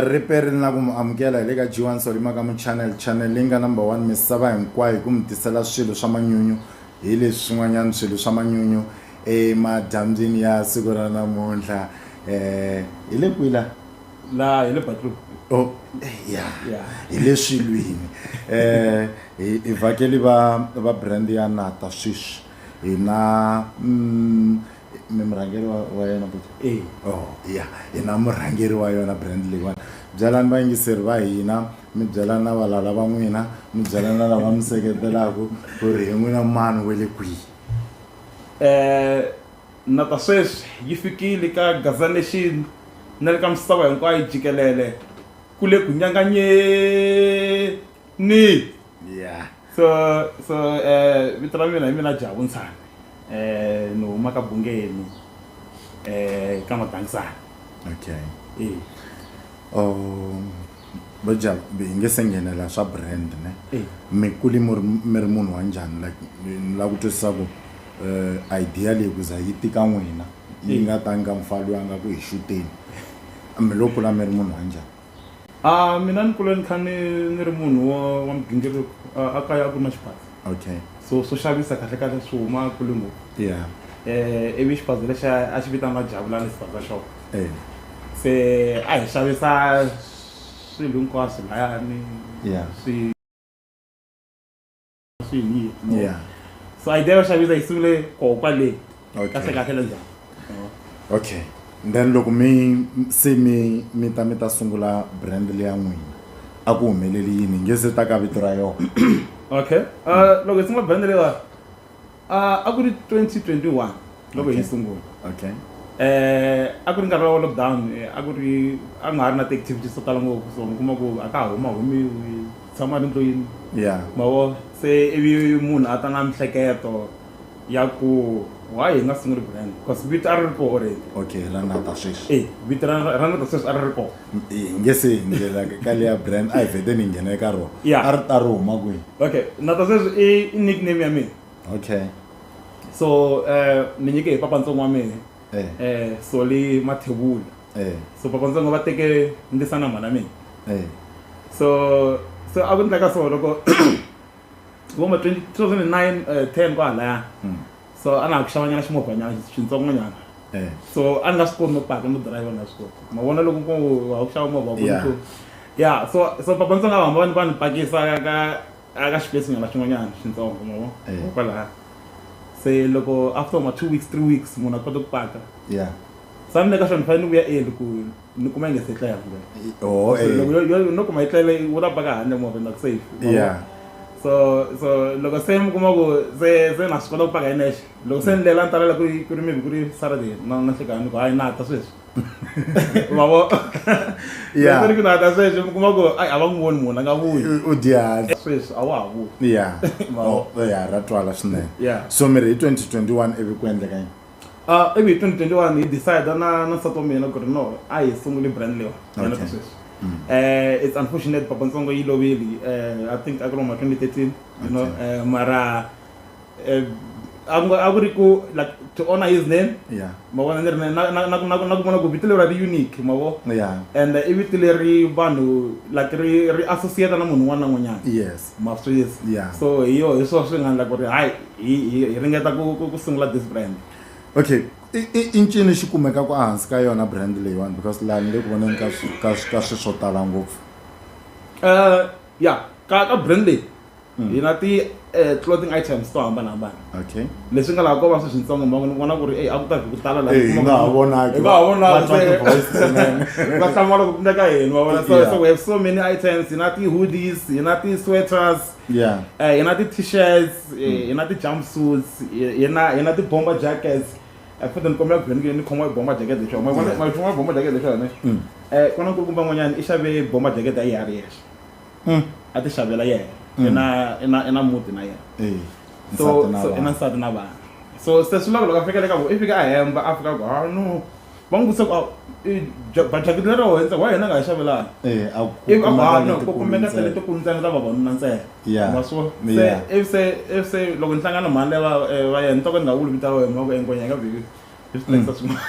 riperi na ku mu amukela hi le ka g1 solima ka muchannel channel leyi nga number one misava hinkwayo hi ku mi tisela swilo swa manyunyu hi leswi swin'wanyana swilo swa manyunyu emadyambyini ya siku ra namuntlha um hi le kwila la hi le bathroom oh ya hi le swilwini eh hi vhakeli va va brand ya nata sweswi hina mm, mi murhangeri wa wa yena but e oh ya hina murhangeri wa yona brand leyiwani byelani vayingiseri va hina mi byela na valala va n'wina mi byela na lava mi seketelaka ku ri hi n'wina mani we le kwihi eh Na ta sweswi yi fikile ka Gaza Nation na le ka misava hinkwayo jikelele ku le ku nyanganyeni. Yeah. So so eh vito ra mina hi mina Jabu Ntshane eh ni huma ka Bungeni eh ka Madangisana. Okay. Eh. Um bo Jabu hi nge se nghenela swa brand ne Eh. mi kuli mi ri mi ri munhu wa njhani like ni la ku twisisa ku Uh, idea leyi ku za yi tika n'wina yi hmm. nga tangi ka mufana loyi a nga ku hi xuteni mi lo kula mi ri munhu wa njhani a ah, mina ni kula ni kha ni ni ri munhu wa wa migingiriko a kaya a ku ri na xiphaza okay so swo xavisa kahle kahle swi huma kule ngopfu yeah eh ivi xiphaza lexi a xi vitaniwa javulani xiphaza shop eh se a hi xavisa swilo hinkwaswo layani yeah swi swiyini yeah so idea yo xavisa yi sungule koho kwale kahle kahle la njhani okay then loko mi se mi mi ta mi ta sungula brand leya n'wina a ku humeleli yini nge se ta ka vito ra yona okay uh, loko hi sungula brand leyiwani Uh, a ku ri 2021 loko okay. hi sungula okay eh a ku ri nkarhi wa lockdown eh, a ku ri a nga ha ri na ti-activities to tala ngopfu so mi kuma ku a ka huma humiwi tshama ri ndlwini ya mavo se ivi munhu a ta na mihleketo ya ku why hi nga sunguli brand because vito a ri ri koho already okay ra na ta sweswi e vito ra ra na ta sweswi a ri ri koho hi nge se hundzela ka leya brand a hi vhete ni nghena eka rona Yeah. a ri ta ri huma kwihi okay na ta sweswi i i nickname ya mina okay so eh, ni nyike hi papa ntsongo wa mina eh eh, soli mathevula eh so papa ntsongo va teke ndisa na mhana mina eh so so a ku endleka so loko vo ma 2009 eh, 10 kwahalaya Mm. so a na ha ku xavanyana ximovhanyana xintsongonyana eh. so a ni nga swi koti no paka no dirayivha ni nga swi koti ma vona loko wa ku xava movha ku ya so so papa ndzi nga hamba va ni pakisa ka ka xipesi nyana xin'wanyana xintsongo ma vo eh. kwalaha se loko after ma two weeks three weeks munhu a kota ku paka ya sa ni le ka xona ni fanele ni vuya eli ku ni kuma yi nga se tla ya vula oh so eh. loko yo yo no kuma yi tlele wu ta baka handle movha na ku safe yeah so so loko se mi kuma ku se se na swi kota ku paka hi nexe loko se ni lela ni talela ku ri ku ri maybe ku ri saturday na na hlekana ni ku hayi na ta sweswi ma vo yeah ku ri ku na ta sweswi mi kuma ku ai a va n'wi voni munhu a nga vuyi u dya sweswi a wa ha vuyi yeah ma vo oh, ya ra twala swinene yeah so mi ri hi 2021 ivi ku endleka yini Uh, ivi hi 2021 hi decide na na nsati wa mina ku ri no a hi sunguli brand lewa yena ta sweswi um it's unfortunate papa ntsongo yi lovile um i think a ku ri ma 2013 you know um mara a ku ri ku like to honor his name ma vona ni ri na ku vona ku vito leri ri unique ma vo and i vito leri vanhu like ri ri associate na munhu un'wana na un'wanyana yes Ma swi tiva yeah so hi yo hi swona swi nga endla ku ri hayi hi hi hi ringeta ku ku ku sungula this brand okay i i i ncini xi kumekaka ehansi ka yona brand leyiwani because laha ni le ku voneni ka swi- ka swi- ka swi swo tala ngopfu Eh, ya ka ka brand leyi hi na ti eh, clothing items to hambanahambana okay leswi nga laha ko va swi swintsongo mbangu ni vona ku ri eyi a ku ta vhi ku tala laha nga ha vonaki nga ha vonaki va hlamula ku pfuna ka hina va vona so so we have so many items hi na ti-hoodies hi na ti-sweaters yeah eh, hi na ti-t-shirts eh, hmm. hi na ti-jumpsuits hi na hi na ti-bomber jackets eh, futhi ni kombela ku ni ni khoma bomber jacket leswi ma vona ma vona bomber jacket leswi yona eh kona nkulukumba n'wanyana i xave bomber jacket a yi ha ri yexe hmm. a ti xavela yena hmm. i na i na i na muti na yena eh, so so i na nsati na vana so se swi loko loko a fika le ka vo i fika a hemba a fika ku ha ah, no va n'wi vutisa ku ah, bajakiti lero hundza wa yena nga hi xavelana eh, ivi a vana ah, ku kumeka tele tikulu ntsena ta vavanuna ntsena ma swo se ivi se ivi se loko ni hlangana mhani leyi va eh, va yena ni toko ndhawu wulu vita wena ma ku enkonya ka vhiki hi swi tekisa swin'wana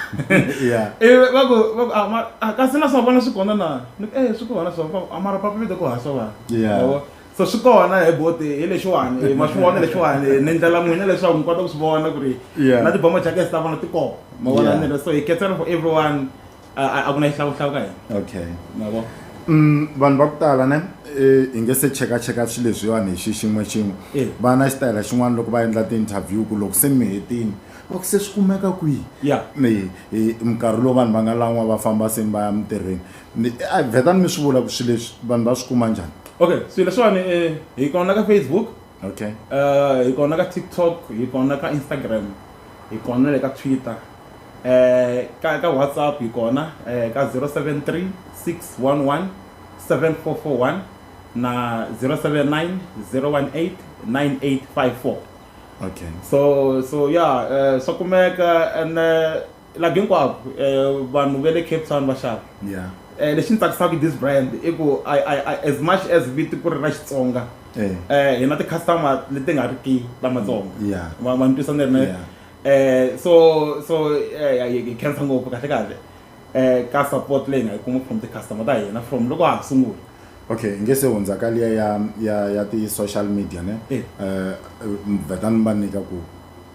Yeah. ivi va ku va ku a ma a kasi na swa vona swi kona na ni ku e swi kona swa va ku a mara papa vide ku hasa vanhu Yeah. Yabo? so swi kona he boti hi lexiwani eh, ma swi vona lexiwani eh, ni ndlela n'wina leswaku mi kota ku swi vona ku ri Yeah. na tibomo jackets ta vona ti kona ma vona Yeah. ni ri so hi ketsela for everyone a ku na xihlawuhlawu ka hina okay mavo Mm, vanhu va ku tala ne eh, hi nge se chekacheka swilo leswiwani hi xi xin'we xin'we Eh. va na xitayela xin'wana loko va endla ti-interview ku loko se mi hetini va ku se swi kumeka kwihi ya Ni- hi- minkarhi lowu vanhu va nga lan'wa va famba se va ya mintirhweni Ni- a vhetani mi swi vula ku swilo leswi vanhu va swi kuma njhani okay swilo leswiwani um hi kona ka facebook okay Eh, hi kona ka tiktok hi kona ka instagram hi kona le ka twitter ka ka whatsapp hi kona ka 073 611 7441 na 079 018 9854 okay so so ya eh, swa kumeka and eh, laha hinkwako eh, vanhu va le cape town va xava yeah Eh, lexi ni tsakisaka hi this brand i ku I- I- I- as much as viti ku ri ra xitsonga eh eh hi na ti-customer leti nga ri ki lamatsongo Yeah. va va ni twisa ni ri na Yeah. eh so so eh hi khensa ngopfu kahle kahle eh ka support leyi nga yi kuma from ti-customer ta hina from loko ha sungula okay nge se hundza ka liya ya ya ya ti-social media ne Eh. eh vetani va nyika ku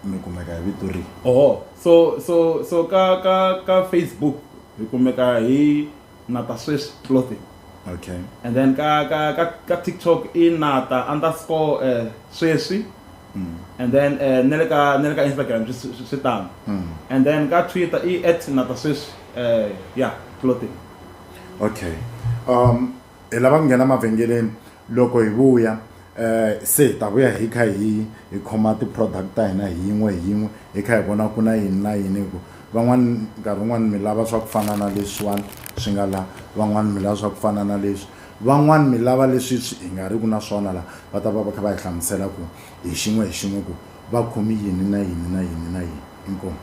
mi kumeka hi vito rihi oho so so so ka ka ka facebook hi kumeka hi Nata Swiss Clothing. Okay. And then ka ka ka, ka TikTok i nata underscore uh, sweswi. Mm. And then uh, nele ka nele ka Instagram swi tano. Mm. And then ka Twitter i at nata sweswi uh, yeah clothing. Okay. Um hi lava ku nghena mavhengeleni loko hi vuya um se hi ta vuya hi kha hi hi khoma ti-product ta hina hi yin'we hi yin'we hi kha hi vona ku na yini na yini hi ku van'wani nkarhi wun'wani mi lava swa ku fana na leswiwani swi nga laha van'wani mi lava swa ku fana na leswi van'wani mi lava leswi swi hi nga ri ku na swona laha va ta va va kha va hi hlamusela ku hi xin'we hi xin'we ku va khomi yini na yini na yini na yini. Inkomu.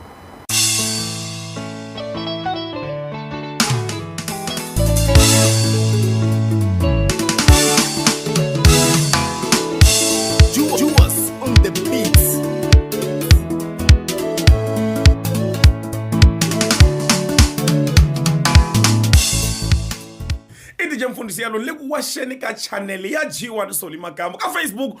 Mfundisi Yalo le ku waxeni ka chanele ya G1 Soli Makambo ka Facebook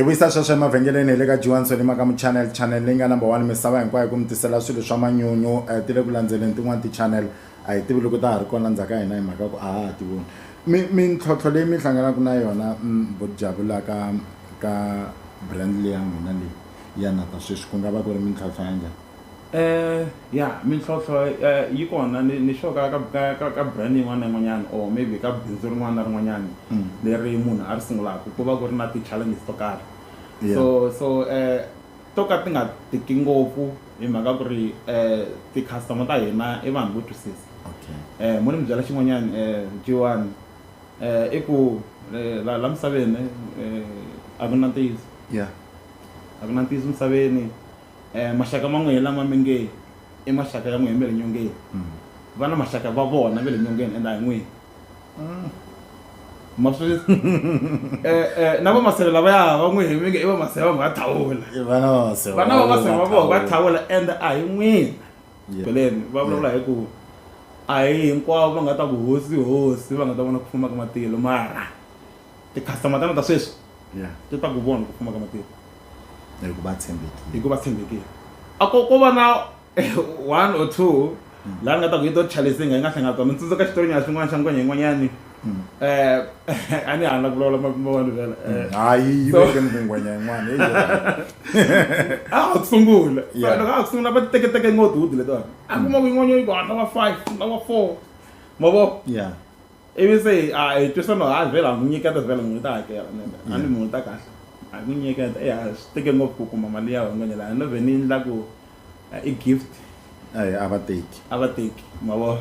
hi vuyisa sweswo emavhengeleni hi le ka johanson ni maka muchannel channel leyi nga number one misava hinkwayo ku mi tisela swilo swa manyunyu um ti le ku landzeleni tin'wani tichannel A hi tivi loko ta ha ri kona ndzhaka hina hi mhaka ku a ha ha ti voni mi mintlhontlho leyi mi hlanganaka na yona vo jabu la ka ka brand leya n'wina leyi ya nata sweswi ku nga va ku ri mintlhontlho ya njhani Eh ya mintlhontlho eh, yi kona ni ni sure ka ka ka ka brand yin'wana na yin'wanyana or maybe ka bindzu rin'wana na rin'wanyana leri munhu a ri sungulaka ku va ku ri na ti-challenges to karhi Yeah. so so eh to ka ti nga tiki ngopfu hi mhaka ku ri ti customer ta hina i vanhu vo twisisa um mo ni mi byela xin'wanyani um jiwani um i ku la la misaveni um a ku na ntiyiso yeah a ku na ntiyiso misaveni um maxaka ma n'wehe lama mi nge i maxaka ya n'wehe mi le nyongeni va na maxaka va vona ve le nyongeni and a hi n'wini Mm. maswiri eh, eh, na vamaseve lava ya va n'wi hemike i vamaseve va nga thawula vana vamaseve vana vamaseve va vona va thawula and a hi n'wina beleni va vulavula hi ku a hi hinkwavo va nga ta ku hosi hosi va nga ta vona ku fuma ka matilo mara ti-customer tana ta sweswi ti ta ku vona ku fuma ka matilo hikuva tshembekile hikuva tshembekile a ko ko va na one or two mm. laha nga ta ku yi to chalisinga yi nga hlanga tona ni tsundzuka xitorinyana swin'wana xa ngwenya yin'wanyani um mm. eh, a ni hana ku vulavula mavanu vela eh. mm. hayi yi veke ni ku ngwenya yin'wana a ha ku sungula loko a ha ku sungula va titeketeke ngotihudi letiwani a kuma ku yin'wanyani yi ku hatla wa five na wa four mavo ivi se a hi twisano ha vhela hi n'wi nyiketa vhela n'wi ta hakela a ni munhu ta kahle a n'wi nyiketa e a swi teke ngopfu ku kuma mali ya van'wanyana a no vhe ni endla ku i gift a va teki a va teki ma vo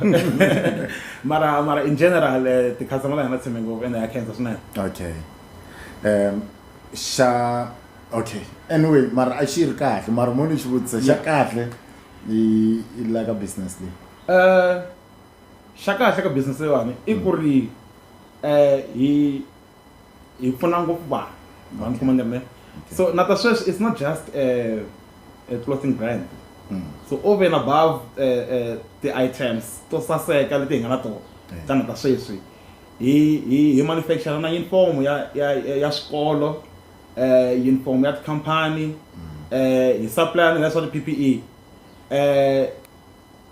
mara mara in general eh, ti-customer la hina tshembe ngopfu ende ya khensa swinene okay um xa okay anyway mara a xi ri kahle mara mo ni xi vutisa xa kahle i la ka business leyi um eh, xa kahle ka business leyiwani i ku ri um hi hi pfuna ngopfu vanhu vanhu kuma ni ri ne so na ta sweswi it's not just um clothing brand hmm. so over and above um ti-items to saseka leti hi nga na tona ta na ta sweswi hi hi hi manufacture na uniform ya ya ya swikolo um uniform ya tikhampani um hi supply na leswa ti-p p e um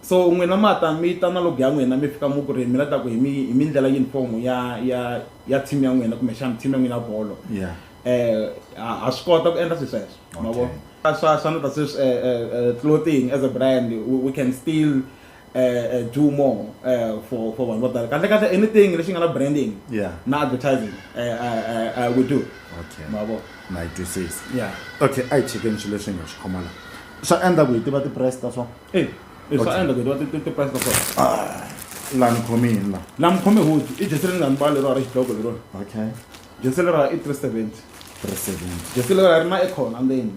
So n'wina ma ta mi ta na log ya n'wina mi fika mi ku ri mi la ta ku hi mi hi mi ndlela uniform ya ya ya team ya n'wina kumbexana team ya n'wina ya bolo ha ha swi kota ku endla swilo sweswo ma vo swa swa na ta sweswi clothing as a brand we can still do more for for vanhu vo tala kahle kahle anything lexi nga na branding na advertising we do ma vo na yi twisisa okay a hi chekeni swilo leswi hi nga swi khoma la. swa endla ku hi tiva tiprice ta swona e swa endla ku hi tiva tiprice ta swona ah, la ni khome yini la la mi khome hoji i jesi leri nga ni bala leriwa ra xidloko leriwa okay jesi leriwa i three seventy three seventy jesi leriwa ri na ekhona ndzeni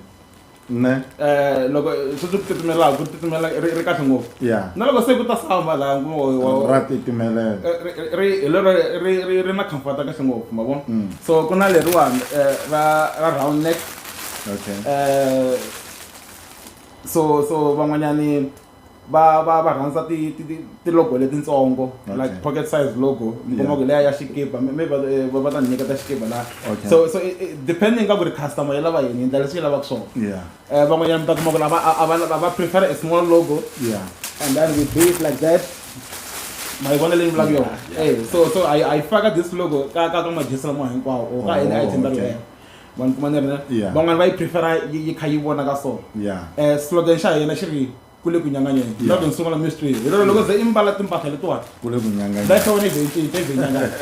ne eh loko swi swi titimela ku titimela ri ri kahle ngopfu ya na loko se ku ta samba la ngo ra titimela eh, ri ri lero ri ri ri na comfort kahle ngopfu ma vona mm. so ku na leriwani eh, ra ra round neck okay eh so so van'wanyani va va va rhandza ti ti ti logo letitsongo okay. like pocket size logo mi kuma ku leya ya xikipa mi va eh, va va ta nyika ta xikipa la okay. so so eh, eh, depending ka ku ri customer ya lava yini ndlela leswi yi lavaka swona yeah eh van'wanyana mi ta kuma ku lava a va va prefer a small logo yeah and then we do it like that my vona leyi vulaka yona eh so so i i faka this logo ka ka ka majesi lama hinkwawo or ka any oh, item that we have ma ni kuma ni ri Yeah. van'wana va yi prefera yi yi kha yi vona ka so Yeah. um slogan xa hina xi ri ku le ku nyanganyeni Yeah. love and sungula mystery hi lero loko ze i mbala timpahla letiwani Kule ku nyanganya. that's how ni veintinta i veinyangani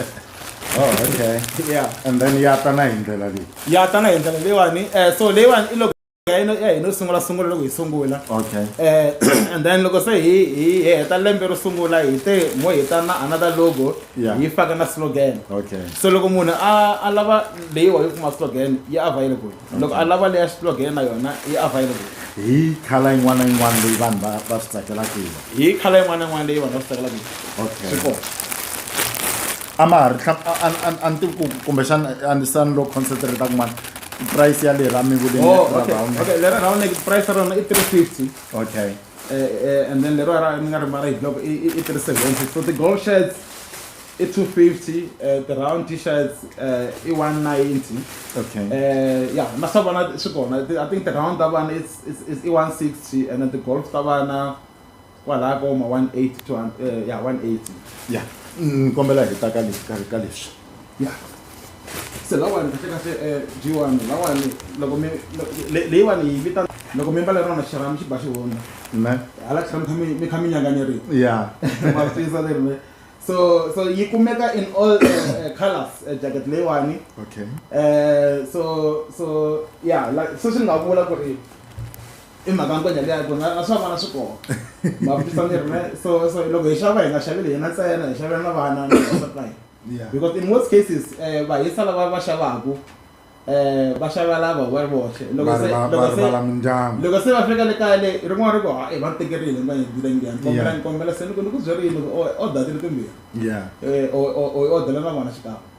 Oh, okay. yeah And then ya ta na hi ndlela leyi. ya tana hi ndlela leyiwani um so leyiwani i loko ya hina ya hina sungula sungula loko hi sungula okay eh and then loko se hi hi heta lembe ro sungula hi te mo hi ta na another logo hi faka na slogan okay so loko munhu a a lava leyi wa yi kuma slogan yi available loko a lava leya slogan na yona yi available hi khala yin'wana na yin'wana leyi vanhu va va swi tsakelaka yona hi khala yin'wana na yin'wana leyi vanhu va swi tsakelaka yona okay swi kona a ma ha ri a ni tivi ku kumbexana a ni sani lo concentrate kun'wana price ya lera mi vule oh, okay. round okay lera round like price ra rona i 350 okay uh, uh, and then lera ra mi nga ri mara hi block i 370 so the gold shirts i 250 uh, the round t-shirts uh, i 190 okay uh, yeah na swa vana swi kona i think the round ta vana it's, it's, it's i 160 and then the golf ta vana kwalaya ka woma 180 to eh, ya 180 ya ni kombela hi ta ka le- ka ka leswi ya se lawani kahle kahle eh, jiwani lawani loko mi lo- le- leyiwani yi vitana loko mi mbale rona xirha mi xi ba xi hundza ne hala tlhela mi kha mi- mi kha mi nyanganyerile ya Ma swi twisisa leri me. so so yi kumeka in all uh, uh, colors uh, jacket leyiwani okay uh, so so yeah like so swi nga vula ku ri i mhaka nkwenya liya ku na swa vana swi kona ma vutisa ni ri so so loko hi xava hi nga xaveli hina ntsena hi xavela na vana na vavasati va hina because in most cases um vahisa lava va xavaku um va xava lava va ri voxe loko se loko se loko se va fika le kaya le rin'wana ri ku ha i va ni tekerile va yendile ngiya ni kombela ni kombela se ni ku ni ku byerile loko o datile timbirhi um o o o odela na vona xikan'we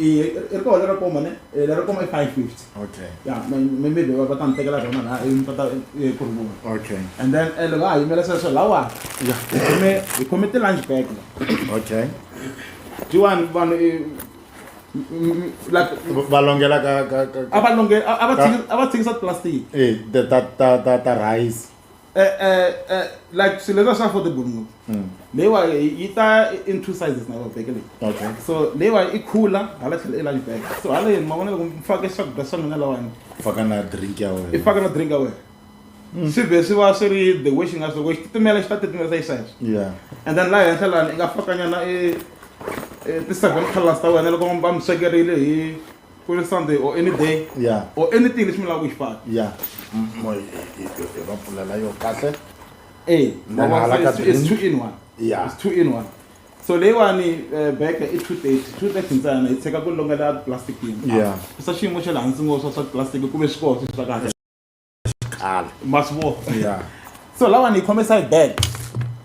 Eh, ri kona lero koma ne eh, lero koma i five fifty okay ya maybe va ta ni tekela rona laha i ta eh, ku rivona okay and then eh, loko a yimela sweswo lawa ya hi khome hi khome ti-lunch bag la okay jiwani vanhu eh, like va longela ka ka ka a va longe a va tshiki- a va tshikisa plastic eh ta ta ta ta rice eh, eh, eh, like swilo leswa swa affordable ngopfu hmm. leyiwa yi ta in two sizes na babeke leyi okay so leyiwa i cooler hala tlhela i lunch bag so hala yini ma vona loko mi fake swakudya swa n'wina lawani faka na drink ya wena i faka na drink ya wena hmm. swi vhe swi va swi ri the way xi nga swi loko xi titimela xi ta titimelisa xisweswo yeah and then laha henhla lani i nga fakanyana e, e ti-seven colors ta wena loko va mi swekerile hi ku ri sunday or any day ya or anything lexi mi lava ku xi faka ya M- mo- hi- hi- hi- hi va pfulela yo kahle Eh, Then ma vona hala ka se- it's drink. two in one Yeah. it's two in one so leyiwani eh, beke i two thirty two thirty ntsena yi tshika ku longela plastic yini Yeah. kusa xiyimo xa le hansi ngopfu swa swa plastic kumbe swikoho swi swa kahle xiqala ma swi vona ya so lawa ni yi khome side bag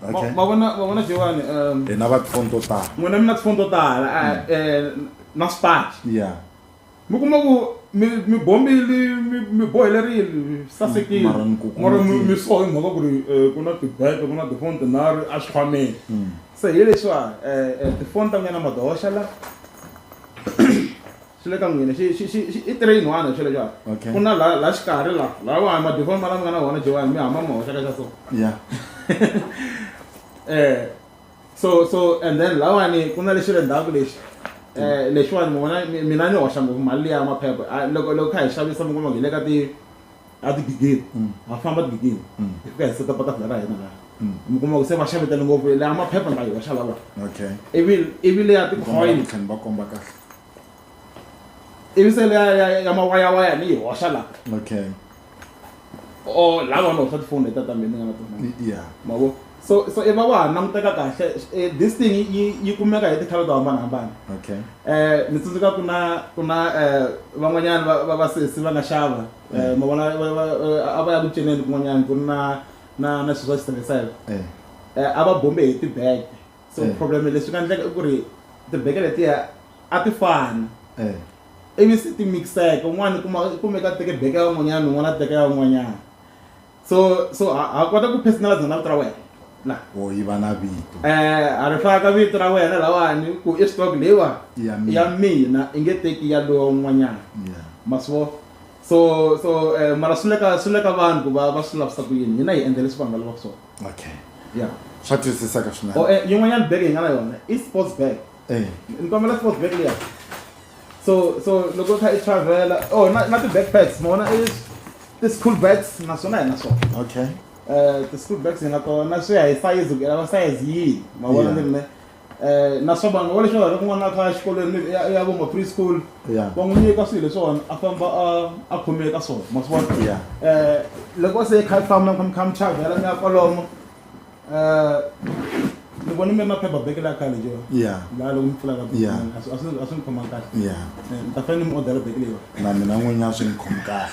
Ma- okay ma vona ma vona jewani um, hi na va tifoni to tala n'wina mi na tifoni to tala ah, eh, na swipaci ya mi kuma ku mi mi bombili mi- mi bohele rili sasekile Mara ni ku kuma mara mi ti- mi so hi mhaka ku ri eh, ku na tibeke ku na tifoni tinharhu a swi khwameni se hi leswiwa eh, eh, tifoni ta n'wina madohoxa la Swi le ka n'wina. Xi, xi, xi, xi, i train one hi swilo swa. Okay. Ku na la, la xikarhi la. La wa ma default ma la mi nga na wona Johan mi hamba mi ma hoxa ka xa so. Yeah. Eh, so, so and then lawani ku na lexi le ndzhaku lexi. Eh, lexiwani mi vona mi, mina ni hoxa ngopfu mali liya ya maphepha. A loko, loko kha hi xavisa mi kuma ku hi le ka ti, a tigidini. Ha famba tigidini. Hi fika hi seta patafula ra hina la. Mi kuma ku se va xavetele ngopfu. Leya maphepha ni ta yi hoxa lawani. Okay. Ivi, ivi leya ti-coin. Tlhela ni va komba kahle. ivi se leya ya ya mawayawaya ni yi hoxa la okay o la va ni hoxa tifoni leta ta mina ni nga na tona Y- yeah mavo so so i va wa ha languteka kahle eh, this thing yi- yi yi kumeka hi tikhala to hambanahambana okay eh ni tsundzuka ku na ku na eh van'wanyana va- va vasesi va nga xava eh ma vona va- va- eh, a va ya ku cineni kun'wanyana ku ri na na na swilo swa xitirhiselo eh eh a va bombe hi tibege so eh. problem leswi nga endleka i ku ri tibeke letiya a ti fani eh. ivi se ti mixeka un'wana kumeka teke beke ya un'wanyana un'wana a teka ya un'wanyana so so ha kota ku personalize na vito ra wena la o yi va na vito eh a ri faka vito ra wena lawani ku i stock leyiwa ya mina i nge teki ya lowa un'wanyana maswo so so eh, mara swi le ka swi le ka vanhu ku va va swi lavisa ku yini hina hi endla leswi vanhu va lavaka swona okay yeah swa twisisa ka swinene oh eh yin'wanyana bag yi nga na yona i sports bag eh ni kombela sports bag leya so so loko kha i travela oh na na ti backpacks mona i ti school bags naswona hi na swona okay eh ti school bags hi na tona swi ya hi size ku lava size yihi ma vona ni ri me eh na swa vanhu wa leswi va n'wana kha xikolweni maybe ya ya vumba preschool Yeah. va n'wi nyika swilo leswiwani a famba a a khomile ka swona ma swi vona Yeah. eh loko se kha famba mi kha mi chavhela mi ya kwalomo eh ni vona mi ri na paper bag la khale jo Yeah. la loko mi pfulaka bag Yeah. a swi- a swi a swi ni khoma kahle ya Eh, mi ta fanele mi odela bag leyiwa na mina n'winyi a swi ni khomi kahle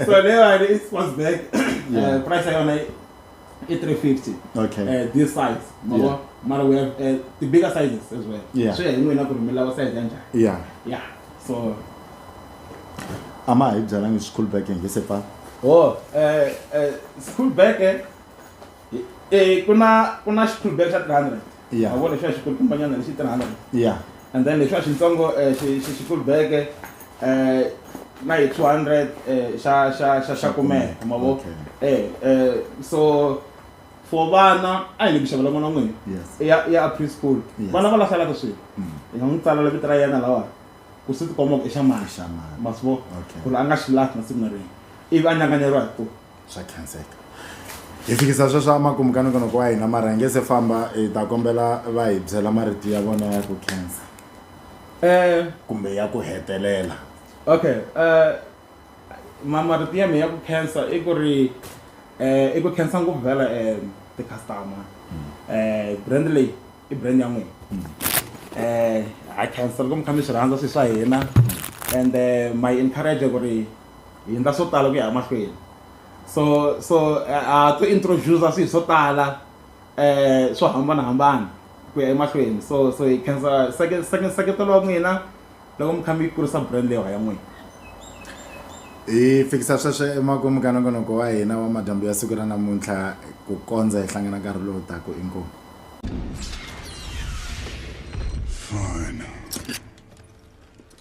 so leyiwani i sports bag Yeah. Eh, price ya yona yi- i 350 okay uh, this size mara yeah. mara we have uh, the bigger sizes as well yeah. swi ya hi n'wina ku ri mi lava size ya njhani yeah yeah so a ma hi byalangi school back nge se fa oh uh, uh, school back eh, eh ku na ku na school back xa 300 Yeah. ma vona lexiya xikulukumbanyana lexi tirhana ya and then lexiya xintsongo eh, xi- xi- xikulubeke eh, na hi 200 eh, xa xa xa xa kumeka ma vo Okay. eh eh, so for vana a hi le ku xavela n'wana wa n'wina yes ya ya preschool Yes. vana va lahlelaka swilo Mm. hi nga n'wi tsalela vito ra yena lawa ku swi tikomba ku i xa mani Xa mani. ma swi vona Okay. ku ri a nga xi lahli masiku na rin'we ivi a nyanganyeriwa hi ku swa khenseka hi fikisa sweswo emakumu ka nongonoko wa hina mara hi nge se famba hi ta kombela va hi byela marito ya vona ya ku khensa um kumbe ya ku hetelela okay um ma marito ya mi ya ku khensa i ku ri um i ku khensa ngopfu vhela um ti-customer um brand leyi i brand ya n'wina um ha khensa loko mi kha mi swi rhandza swilo swa hina and my encourage ku ri hi endla swo tala ku ya emahlweni so so ha to introduce swilo swo tala um swo hambanahambana ku ya emahlweni so so hi khensa seketelo wa n'wina loko mi kha mi yi kurisa brand leyiwa ya n'wina hi fikisa sweswo emakumu ka nongonoko wa hina wa madyambu ya siku ra namuntlha ku kondza hi hlangana nkarhi lowu taku inkomu